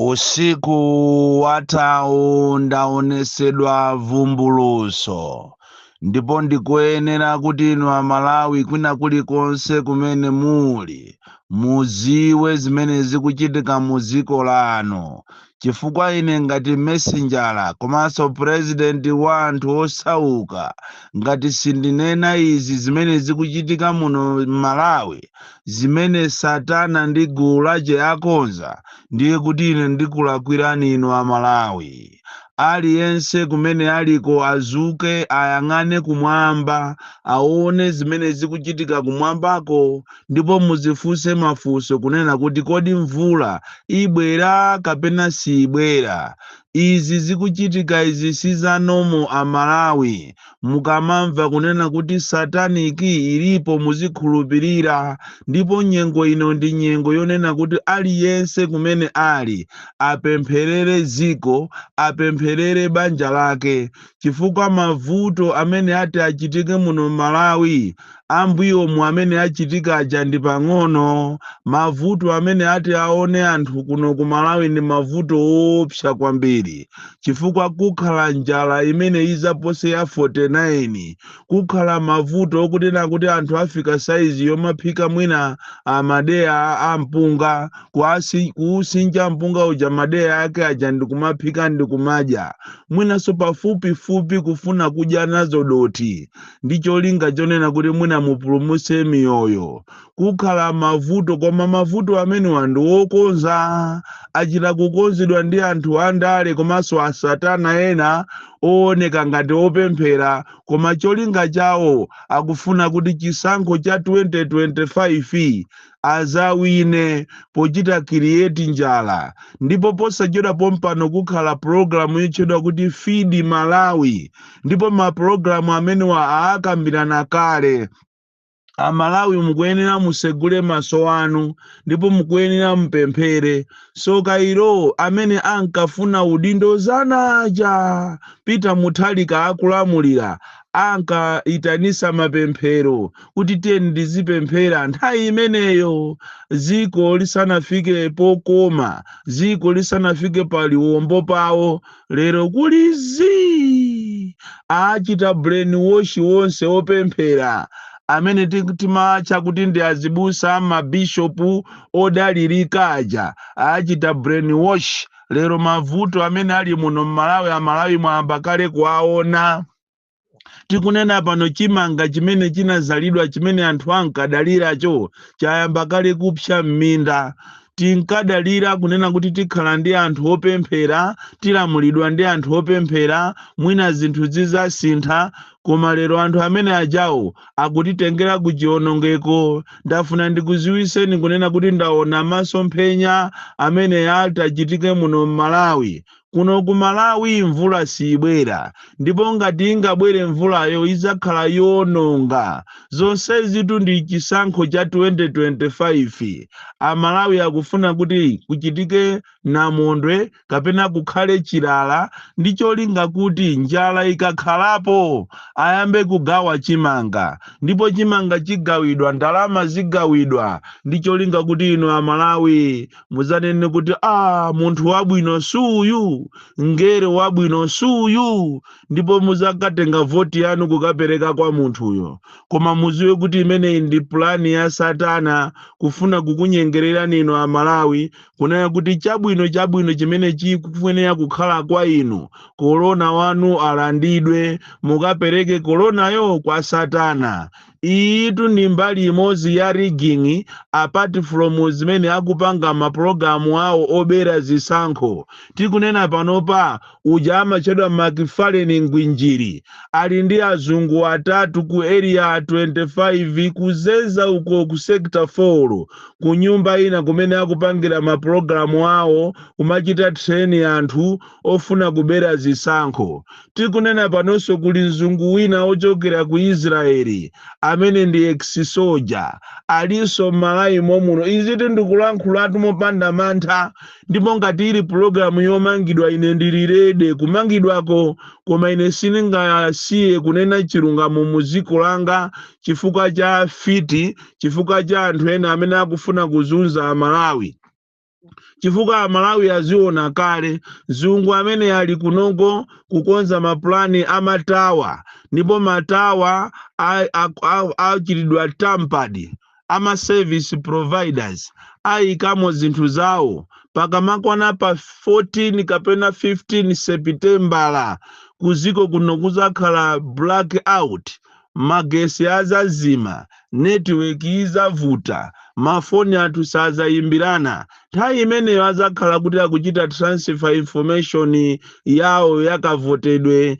Usiku wathawu ndaonesedwa vumbuluso ndipo ndikuyenera kuti inu amalawi kwina kulikonse kumene muli muziwe zimene zikuchitika mu dziko lanu chifukwa ine ngati mesenjala komanso president wa anthu osauka ngati sindinena izi zimene zikuchitika muno mmalawi zimene Satana ndi gulu lace akonza, ndiye kuti ine ndikulakwirani inu a Malawi. Aliyense kumene aliko azuke ayang'ane kumwamba aone zimene zikuchitika kumwambako ndipo muzifunse mafunso kunena kuti kodi mvula ibwera kapena siibwera. Izi zikuchitika izi si za normal a Malawi. Mukamamva kunena kuti satanic ilipo muzikhulupirira ndipo nyengo ino ndi nyengo yonena kuti aliyense kumene ali apempherere dziko, apempherere banja lake chifukwa mavuto amene ati achitike muno mMalawi ambuyomu amene achitika aja ndi pang'ono mavuto amene ati aone anthu kuno ku malawi ndi mavuto oopsa kwambiri chifukwa kukhala njala imene izapose ya 49 kukhala mavuto okunena kuti anthu afika saizi yomaphika mwina amadeya a mpunga kuasi- kuusinja mpunga uja madeya ake aja ndikumaphika ndikumadya mwinanso pafupifupi kufuna kudya nazo dothi ndi cholinga chonena kuti mwina mupulumutse miyoyo kukhala mavuto koma mavuto amenewa ndi okonza achita kukonzedwa ndi anthu andale komanso asatana ena ooneka ngati opemphera koma cholinga chawo akufuna kuti chisankho cha 2025 azawine pochita create njala ndipo posachedwa pompano kukhala pulogalamu yotchedwa kuti Feed Malawi ndipo mapulogalamu amenewa aakambirana kale amalawi mukuyenera musegule maso anu ndipo mukuyenera mupemphere soka ilo amene ankafuna udindo zanaja peter mutharika akulamulira ankaitanisa mapemphero kuti tiyeni tizipemphera nthawi imeneyo dziko lisanafike pokoma dziko lisanafike pa liwombo pawo lero kuli zii achita brain wash wonse opemphera amene ti- timatcha kuti ndi azibusa mabishopu odalirika aja achita brain wash lero mavuto amene ali muno m'malawi amalawi mwayamba kale kuwaona tikunena pano chimanga chimene chinazalidwa chimene anthu ankadaliracho chayamba kale kupsa m'minda tinkadalira kunena kuti tikhala ndi anthu opemphera tilamulidwa ndi anthu opemphera mwina zinthu zizasintha koma lero anthu amene ajawo akutitengera ku chionongeko ndafuna ndikuziwiseni kunena kuti ndaona masomphenya amene atachitike muno m'malawi kuno ku malawi mvula siyibwera ndipo ngati ingabwere mvulayo idzakhala yoononga zonsezitu ndi chisankho cha 2025 amalawi akufuna kuti kuchitike namondwe kapena kukhale chilala ndi cholinga kuti njala ikakhalapo ayambe kugawa chimanga ndipo chimanga chigawidwa ndalama zigawidwa ndi cholinga kuti inu amalawi muzanene kuti a munthu wabwino suyu ngere wabwino suyu ndipo muzakatenga voti yanu kukapereka kwa munthuyo koma muziwe kuti imeneyi ndi pulani ya satana kufuna kukunyengererani inu amalawi kunena kuti chabwino chabwino chimene chikufunera kukhala kwa inu korona wanu alandidwe mukapereke koronayo kwa satana iyitu ndi mbali imodzi ya rigging apart from zimene akupanga mapulogalamu awo obera zisankho tikunena panopa uja amatchedwa Macfarlane Ngwinjiri ali ndi azungu atatu ku area 25 kuzeza uko ku sector 4 ku nyumba ina kumene akupangira mapulogalamu awo kumachita train anthu ofuna kubera zisankho tikunena panonso kuli mzungu wina ochokera ku israeli amene ndi ex-soldier alinso m'malawi momuno izitu ndikulankhulatu mopanda mantha ndipo ngati ili pulogalamu yomangidwa ine ndili ready kumangidwako koma ine sindingasiye kunena chilungamo mu dziko langa chifukwa cha fiti chifukwa cha anthu ena amene akufuna kuzunza amalawi chifukwa amalawi aziona kale mzungu amene ali kunoko kukonza mapulani amatawa ndipo matawa a- a- a- achitidwa tampered a ma service providers ayikamo zinthu zawo pakamakwana pa 14 kapena 15 sepitembala kuziko kuno kuzakhala blackout magesi azazima netiweki izavuta mafoni athu sazayimbirana Nthawi imeneyo adzakhala kuti akuchita transfer information yawo yakavotedwe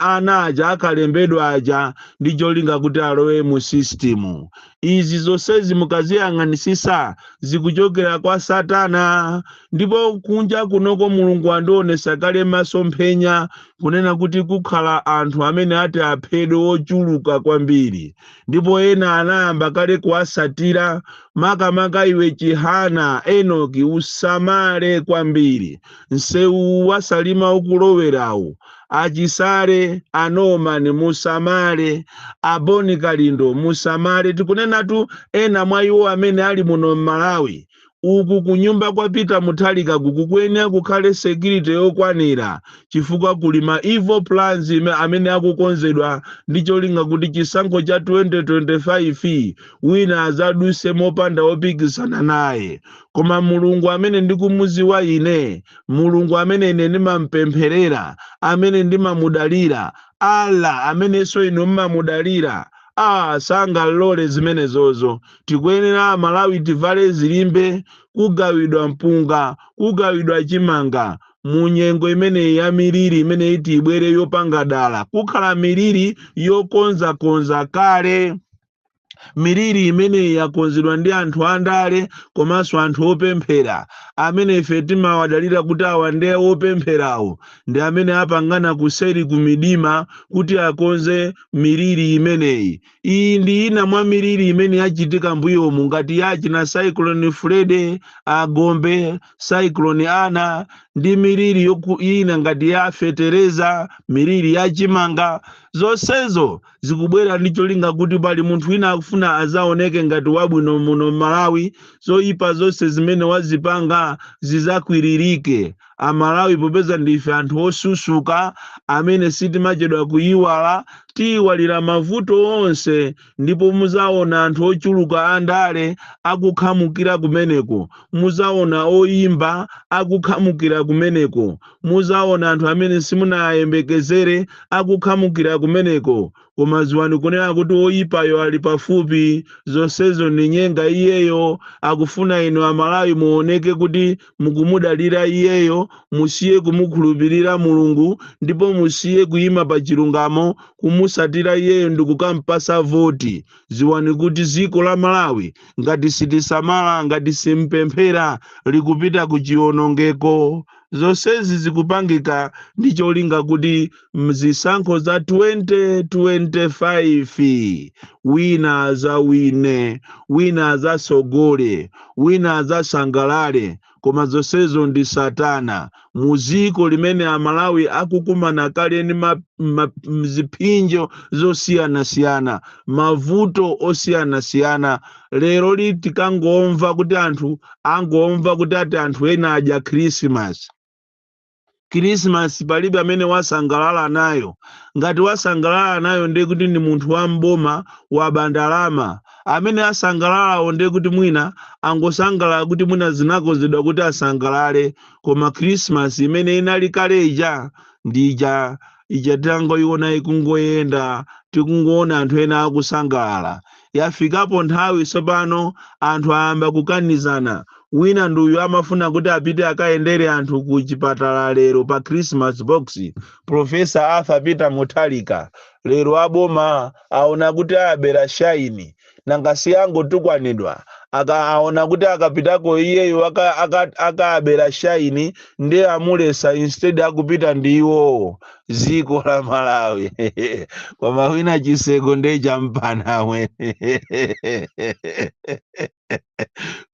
ana aja akalembedwa aja ndi cholinga kuti alowe mu system. Izi zonsezi mukaziyang'anisisa zikuchokera kwa Satana ndipo kunja kunoko Mulungu andionesa kale masomphenya kunena kuti kukhala anthu amene ati aphedwe ochuluka kwambiri ndipo ena anayamba kale kuwasatira makamaka iwe Chihana Enoki usamale kwambiri msewu wa Salima ukulowerawu a Chisale a Nomani musamale a Boni Kalindo musamale tikunenatu ena mwa iwo amene ali muno m'Malawi uku kunyumba kwa Peter Mutharika kukuyenera kukhale security yokwanira chifukwa kuli ma evil plans amene akukonzedwa ndi cholinga kuti chisankho cha 2025 wina azaduse mopanda opikisana naye koma mulungu amene ndikumuziwa ine mulungu amene ine ndimampempherera amene ndimamudalira allah amenenso inu mmamudalira ah sangalole zimenezozo tikuyenera amalawi tivale zilimbe kugawidwa mpunga kugawidwa chimanga mu nyengo imeneyi ya miliri imene iti ibwere yopanga dala kukhala miliri yokonzakonza kale miliri imeneyi yakonzedwa ndi anthu andale komanso anthu opemphera amene ife timawadalira kuti awa ndi opempherawo ndi amene apangana kuseri kumidima kuti akonze miliri imeneyi Iyi ndi ina mwa miliri imene yachitika mbuyomu ngati ya achina Cyclone Freddy, a Gombe, Cyclone Ana ndi miliri ina ngati ya fetereza, miliri ya chimanga. Zonsezo zikubwera ndi cholinga kuti pali munthu wina akufuna azaoneke ngati wabwino muno Malawi, zoipa zonse zimene wazipanga zizakwiririke. amalawi popeza ndife anthu osusuka amene sitimachedwa kuyiwala tiyiwalira mavuto onse ndipo muzaona anthu ochuluka andale akukhamukira kumeneko muzaona oyimba akukhamukira kumeneko muzaona anthu amene simunayembekezere akukhamukira kumeneko koma ziwani kunena kuti oyipayo ali pafupi zonsezo ni nyenga iyeyo akufuna inu amalawi muoneke kuti mukumudalira iyeyo musiye kumukhulupirira mulungu ndipo musiye kuyima pa chilungamo kumusatira iyeyo ndikukampasa voti ziwani kuti ziko la malawi ngati sitisamala ngati simpemphera likupita ku chiwonongeko zonsezi zikupangika ndi cholinga kuti mzisankho za 2025 wina azawine wina azasogole wina azasangalale koma zonsezo ndi satana muziko limene amalawi akukumana kale ndi ma- ma- mziphinjo zosiyanasiyana mavuto osiyanasiyana lero li tikangomva kuti anthu angomva kuti ati anthu ena adya khrisimasi Christmas palibe amene wasangalala nayo. Ngati wasangalala nayo ndiye kuti ndi munthu wa mboma waba ndalama. Amene asangalalawo ndiye kuti mwina angosangalala kuti mwina zinakonzedwa kuti asangalale koma Christmas imene inali kale ija ndi ija ija tangoiona ikungoyenda tikungoona anthu ena akusangalala yafikapo nthawi tsopano anthu ayamba kukanizana wina ndi uyu amafuna kuti apite akayendere anthu ku chipatala lero pa christmas box profesa arthur peter mutharika lero aboma aona kuti ayabera shaini nanga si yangotukwanidwa aka aona kuti akapitako iyeyo aka- aka- akaabera shaini nde amuletsa instead akupita ndi iwowo ziko la malawi koma wina chiseko nde champanawe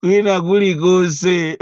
kwina kulikonse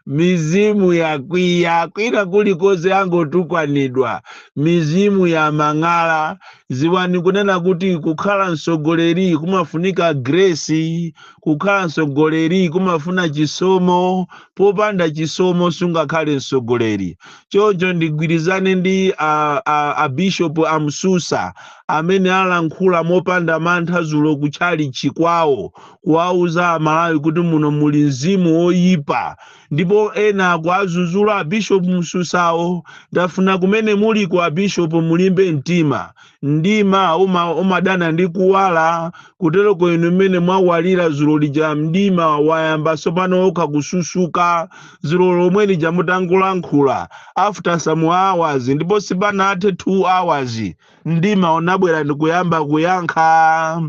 mizimu yakwiya kwina kulikonse angotukwanidwa mizimu ya mang'ala ziwani kunena kuti kukhala mtsogoleri kumafunika grace kukhala mtsogoleri kumafuna chisomo popanda chisomo sungakhale mtsogoleri choncho ndigwirizane ndi a, a, a bishop a msusa amene alankhula mopanda mantha zulo kutchalitchi kwawo kuwauza amalawi kuti muno muli mzimu woyipa ndipo ena akuwazuzula abishop msusawo ndafuna kumene muliko abishop mulimbe mtima mdima uma, umadana ndi kuwala kuteroko inu mmene mwawalira zulo lija mdima wayamba tsopano wokha kususuka zulo lomwe lija mutangolankhula after some hours ndipo sipanathe 2 hours mdima unabwera ndikuyamba kuyankha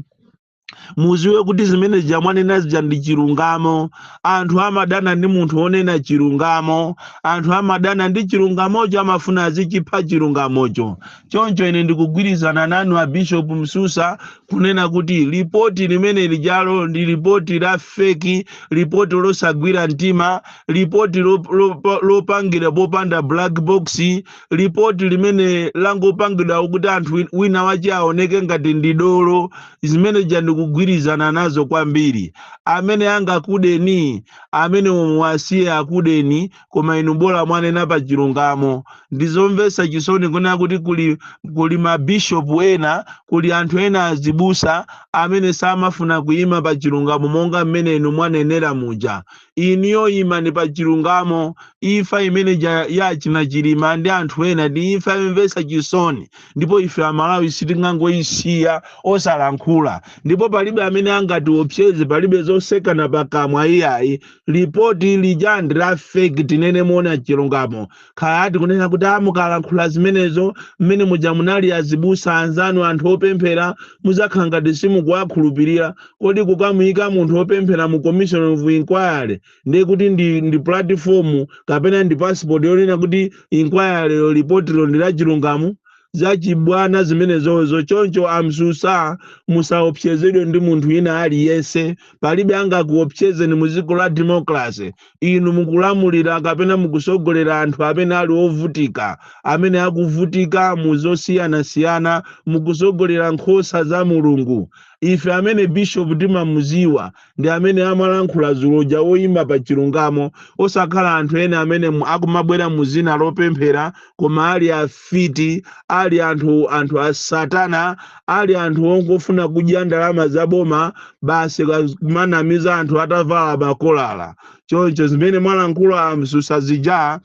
muziwe kuti zimene zija mwanena zija ndi chilungamo anthu amadana ndi munthu wonena chilungamo anthu amadana ndi chilungamocho amafuna azichipha chilungamocho choncho ine ndikugwirizana nanu a bishop msusa kunena kuti lipoti limene lijalo ndi lipoti la feki lipoti losagwira mtima lipoti lop- lop- lopangira popanda black box lipoti limene langopangidwa kuti anthu win- wina wache aoneke ngati ndi dolo zimene ja ndikugwirizana nazo kwambiri amene angakudeni amene muwasiye akudeni koma inu bola mwanena pa chilungamo ndizomvetsa chisoni kunena kuti kuli, kuli mabishopu ena kuli anthu ena azibusa amene samafuna kuyima pa chilungamo monga mmene inu mwanenera muja Inuyo imani pa chilungamo. Imfa imene ya achina Chilima ndi anthu ena ndi imfa yomvetsa chisoni ndipo ife Amalawi sitingangoisiya osalankhula. Ndipo palibe amene angatiopseze, palibe zotsekana pakamwa iyayi. Lipoti lija ndi la fake, tinene moona chilungamo. Kaya tikunena kuti a mukalankhula zimenezo mmene muja munali azibusa anzanu anthu opemphera muzakhala ngati simukuwakhulupirira. Kodi kukamuyika munthu opemphera mu commission of inquiry ndiye kuti ndi, ndi platform kapena ndi passport yonena kuti inquiry lipotilo ndi lachilungamo? zachibwana zimenezozo choncho a Msusa musaopsezedwe ndi munthu ina aliyense palibe angakuopsezeni mu dziko la democracy inu mukulamulira kapena mukusogolera anthu amene ali ovutika amene akuvutika mu zosiyanasiyana mukusogolera nkhosa za mulungu ife amene bishopu timamuziwa ndi amene amalankhula dzulo uja woyima pa chilungamo osakhala anthu ena amene mu- akumabwera mu zina lopemphera koma ali afiti ali anthu anthu a satana ali anthu ongofuna kudya ndalama za boma basi ka- kumanamiza anthu atavala makolala choncho zimene mwalankhula a Msusa zija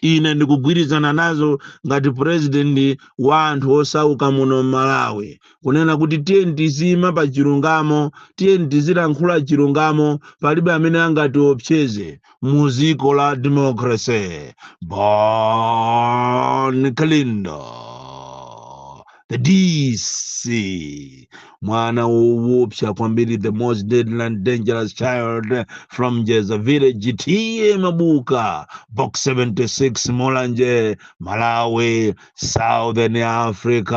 ine ndikugwirizana nazo ngati purezidenti wa anthu osauka muno m'malawi kunena kuti tiyeni tiziima pa chilungamo tiyeni tizilankhula chilungamo palibe amene angatiopseze mu dziko la democracy Bon Kalindo the DC, mwana woopsa kwambiri, the most deadly and dangerous child from Jeza village, TA Mabuka, box 76, Mulanje, Malawi, Southern Africa.